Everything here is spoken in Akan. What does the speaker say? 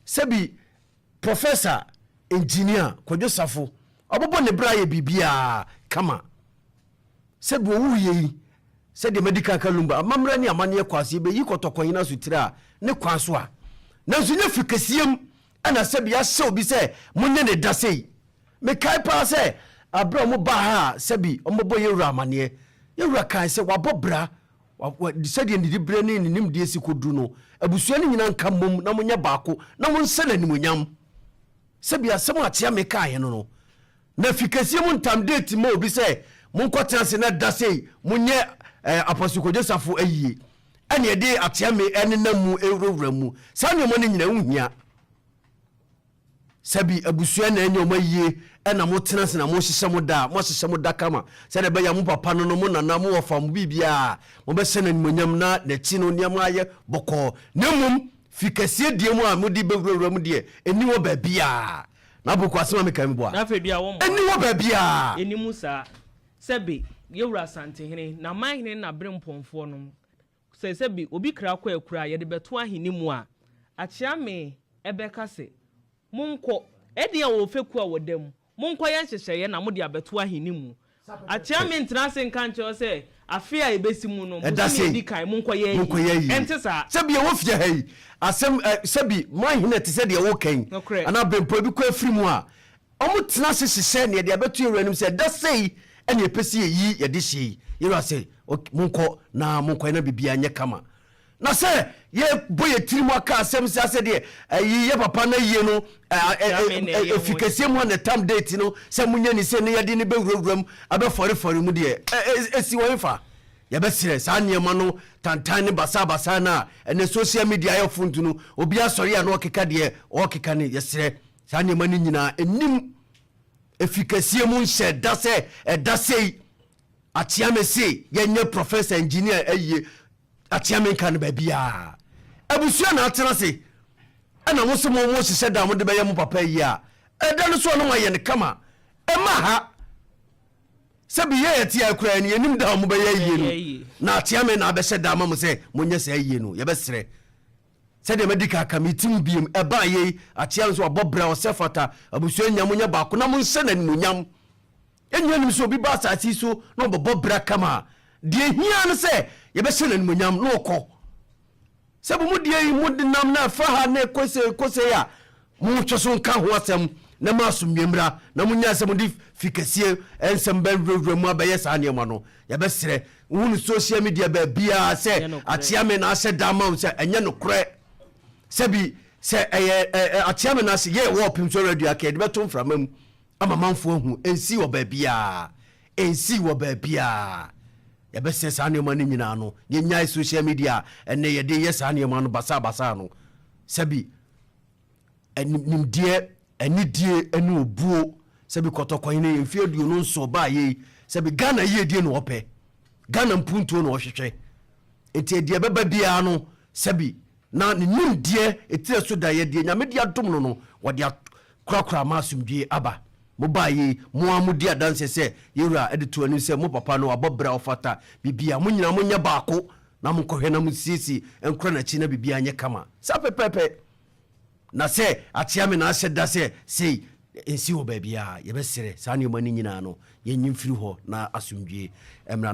sɛ bi Professor Engineer Kwadwo Safo ɔbobɔ ne bra yɛ biribiaa kama sɛ bi ɔwu yɛ yi sɛ deɛ Medical Kalumba amammerɛ ne amanneɛ kɔ aseɛ bɛyi kɔtɔkɔnyin asutire a ne kwan so a nanso nyɛ firi kɛseɛm ɛna sɛ bi ahyɛ obi sɛ mo nyɛ ne da sei mekae paa sɛ aberɛ a ɔmo baa ha a sɛ bi ɔmo bɛbɔ yɛwura amanneɛ yɛwura kae sɛ wabɔ bra Sɛdeɛ ne diberɛ ne ne nimdeɛ si kɔduru no, abusua no nyinaa nka mmom na monyɛ baako na monsɛ no animuonyam. Sɛdeɛ asɛm a akyea mekaaeɛ no no, na fi kɛseɛ mu ntam deeti ma obi sɛ monkɔtena ase na da sei monyɛ Apostle Kojo Sarfo ayie, ɛnneɛ de akyea me nenam mu ɛwurawura mu. Saa nneɛma no nyinaa ɛho hia. Sɛbi abusua na ɛnyɛ wɔn ayie ɛna mo tena ase na mo hyehyɛ mo da a mo ahyehyɛ mo da kama sɛdeɛ ɛbɛyɛ a mo papa no no mo nana mo wɔfa mo biribiara mo bɛhyɛ no animuonyam na nakyi no nneɛma ayɛ bɔkɔɔ na mmom fi kɛseɛ deɛ mu a mo de bɛwura wura mu deɛ ɛnni hɔ baabiara na aboko asɛm a me kan meboa ɛnni hɔ baabiara. Ɛnni mu saa. Sɛbi yɛwura Asantehene, Namanhene na Berempɔnfoɔ nom. Sɛ sɛ bi obi kra kɔ akura a yɛde bɛto ahene mu a, Akyeame bɛka sɛ, Monkɔ, ɛdeɛn wɔ fekuo a wɔda mu, monkɔ yɛ nhyehyɛeɛ na mode abɛto ahene mu. Akyeame ntena ase nka nkyerɛ wo sɛ, afe a ɛbɛsi mu no, bosome a ɛdi kan, monkɔ yɛ ayie. Ɛnte saa. Sɛ bi ɛwɔ fie ha yi, asɛm, sɛ bi mo ahene te sɛ deɛ woreka yi, anaa bempɔ bi kɔ afiri mu a, Wɔtena ase hyehyɛ nea yɛde abɛto yɛn wura anim sɛ, Da sei na yɛpɛ sɛ yɛyi yɛn dehyeɛ yi. Yɛn wura se, Ok, monkɔ na monkɔ yɛ na biribiara nyɛ kama. Na sɛ yɛbɔ yɛn tirim aka asɛm saa sɛ deɛ ayi yɛ papa na ayie no ɛfi kɛseɛ mu a na ɛtam date no sɛ monyɛ ni sei na yɛde no bɛwurawura mu abɛfɔrefɔre mu deɛ ɛsi wɔ hefa? Yɛbɛserɛ saa nneɛma no tantan ne basaabasaa no a ɛnnɛ social media ayɛ funtunu, obiara sɔre a na ɔkeka deɛ ɔrekeka no. Yɛserɛ Saa nneɛma no nyinaa nnim. Efi kɛseɛ mu nhyɛ da sɛ ɛda sei. Akyeame se yɛnyɛ professor, engineer ayie. Akyeame nka no baabiaa. Abusua na atena ase. Ɛna mo se mo mo hyehyɛ da a mode bɛyɛ mo papa ayie a, ɛda no so a na moayɛ no kama. Ɛma ha. Sɛbi yɛ yɛte ha koraa no yɛnim da a mobɛyɛ ayie no. Na Akyeame na abɛhyɛ da ama mo sɛ monyɛ saa ayie no. Yɛbɛsrɛ. Sɛdeɛ madi kan aka, meretim bio, ɛbaa yei, akyea no nso wabɔ bra, ɔsɛ fata, abusua nyinaa monyɛ baako na monhyɛ no animuonyam. Yɛn nyinaa nim sɛ obi ba asase yi so na ɔbɛbɔ bra kama a, deɛ ɛhia no sɛ yɛbɛhyɛ no animuonyam na ɔkɔ. Sɛ mo mu deɛ yi modenam na ɛfa ha na ɛkɔ sei ɛkɔ sei a, Montwe so nka ho asɛm na mo asomdwoe mmra, na monnyae sɛ mode fi kɛseɛ nsɛm bɛwurawura mu abɛyɛ saa nneɛma no. Yɛbɛsrɛ wohu no social media baabiara sɛ Ateame na ahyɛ da ama wo sɛ ɛnyɛ nokorɛ. Sɛbi sɛ ɛyɛ Ateame no ase yɛɛ wɔɔl pem so ara dua ka yɛde bɛto mframa mu ama amanfoɔ ahu. Ɛnsii wɔ baabiara. Ɛnsii wɔ baabiara. Yɛbɛsrɛ saa nneɛma no nyinaa no yɛnyae social media a ɛnnɛ yɛde yɛ saa nneɛma no basaa basaa no. Sɛbi Nimdeɛ, anidie ne obuo sɛbi kɔtɔkɔn ne mfeɛ aduonu nson baa yei sɛbi Ghana yiedie na ɔpɛ, Ghana mpuntuo na ɔhwehwɛ. Nti deɛ ɛbɛba biara no sɛbi na ne nimdeɛ etire so da yɛ deɛ Nyame de adom no no wɔde akorakora ama asomdwie aba. Mo baa yei, mo ara mo di adanseɛ sɛ yɛn Wura de to anim sɛ mo papa no wabɔ bra ɔfata biribiara. Mo nyinaa mo nyɛ baako. Na monkɔhwɛ na munsiesie nkora n'akyi na biribiara nyɛ kama. Saa pɛpɛɛpɛ. Na sɛ akyea me na ahyɛ da sɛ sei nsi wɔ baabiara a, yɛbɛsrɛ saa nneɛma no nyinaa no yɛnyi mfiri hɔ na asomdwoe mmra.